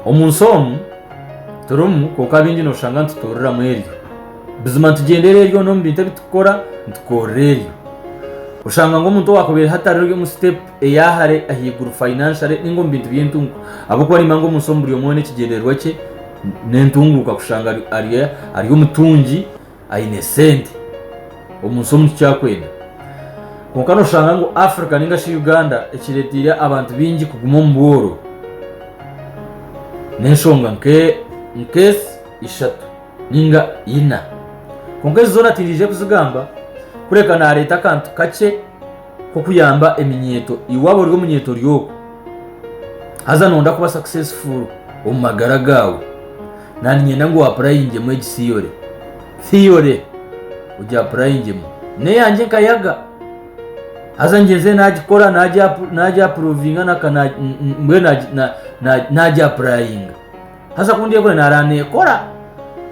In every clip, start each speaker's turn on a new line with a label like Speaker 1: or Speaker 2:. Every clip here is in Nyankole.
Speaker 1: Omu nsi omu turimu kwonka bingi nooshanga nitutuuriramu eryo. Buzima nitugyendera eryona omu bintu ebi turikukora nitukorera eryo. Oshanga ngu omuntu owaakubaire hati ari omu sitepu eyaahare ahaiguru fayinanshare nainga omu bintu by'entunguka ahabw'okuba naimanya ngu omu nsi omu buri omwe n'ekigyendererwa kye n'entunguka kushanga ari omutungi aine sente omu nsi omu kikyakwenda kwonka noshanga ngu Africa ninga shi Uganda ekireteire abantu bingi kuguma omu bworo n'enshonga nk'ezi ishatu ninga ina kwonka ezi zoona tindiije kuzigamba kureka nareeta akantu kakye. k'okuyamba eminyeeto. Iwe waaba ori omunyeeto ry'oku? Haza nooyenda kuba successful omu magara gaawe? Naaniinyenda ngu oapurayingemu egi theory. Theory ogiapurayingemu. N'eyangye nkayaga. Haza ngyenzire naagikora, naagyapuruvinga, mbwenu naagiapurayinga. Haza ku ndyekora naaraba neekora,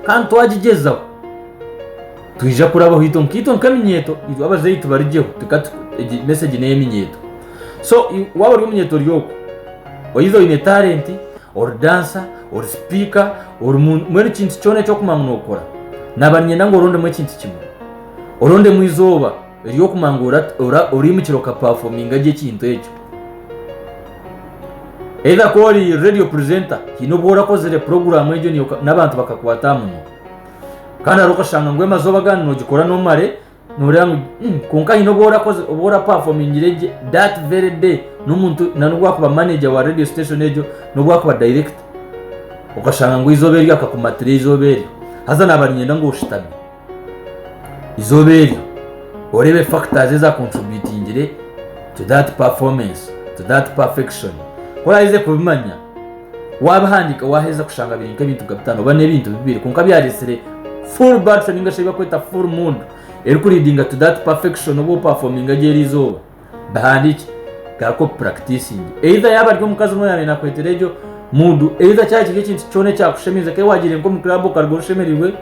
Speaker 1: kandi twagigyezaho, twija kurabaho itwe nkaitwe nk'eminyeeto, itwe abazaire tubarigyeho, egi mesegi n'ey'eminyeeto. So waaba ori omunyeeto ori oku, oyiza oine talenti, ori dansa, ori sipiika, ori mbwenu ekintu kyona eki orikumanya ngu nookora, naaba niinyenda ngu orondemu ekintu kimwe, orondemu eizooba, Ery'okuguma ngu oraimukire okapafominga gye ekintu ekyo. Either ku ori radio presenter haine obu orakozire puroguraamu egyo n'abantu bakakwata aha munwa. Kandi hariho okashanga ngu amazooba agandi noogikora n'omare nooreeba ngu hmm, kwonka haine obu orapafomingire gye that very day n'omuntu nan'obu akuba manager wa radio station egyo n'obu akuba director okashanga ngu eizooba eryo akakumatira eizooba eryo haza naaba niinyenda ngu oshutame. Eizooba eryo oreebe factors eza contributingire to that performance, to that perfection. Ku oraheza kubimanya, wabihandika waheza kushanga biri nka ebintu nka bitano oba n'ebintu bibiri kwonka byaretsire full battery ningashi ebi bakweta full mood eri ku leadinga to that perfection obu operforminga gye erizooba. Bihandiikye, garuka obipuractisinge. Either yaaba ari omukazi omwe oyaabaire naakweteera egyo mood, either kyaba kiri ekintu kyona ekyakushemeza, ku waagiire nk'omu club okaruga oshemerirwe,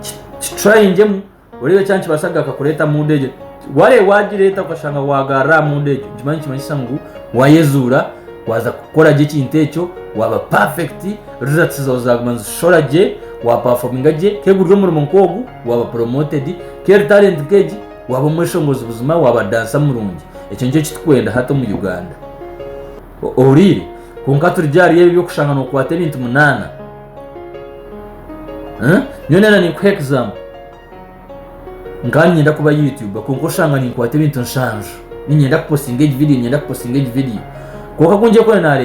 Speaker 1: ki- kitryingemu oreebe kyaba nikibaasa kugaruka kureeta mood egyo. Waareeba waagireeta okashanga waagarura aha mood egyo, nikimanya nikimanyisa ngu waayezuura, waaza kukora gye ekintu ekyo, waaba perfect, results zaawe zaaguma nizishora gye, waapafominga gye. Ku guri omurimo nk'ogu, waaba promoted. Ku eri talent nk'egi, Waaba omweshongozi buzima waaba dansa murungi ekyo nikyo ekitukwenda hati omu Uganda. Ohuriire? Kwonka turigye ahari ebyo by'okushanga nokwata ebintu munaana. Huh? Nyowe nayenda ninkuha example. Nkaba ninyenda kuba YouTuber kwonka oshanga ninkwata ebintu nshanju. Ninyenda kupostinga egi video, ninyenda kupostinga egi video. Kwonka ku ngyekora nareeba.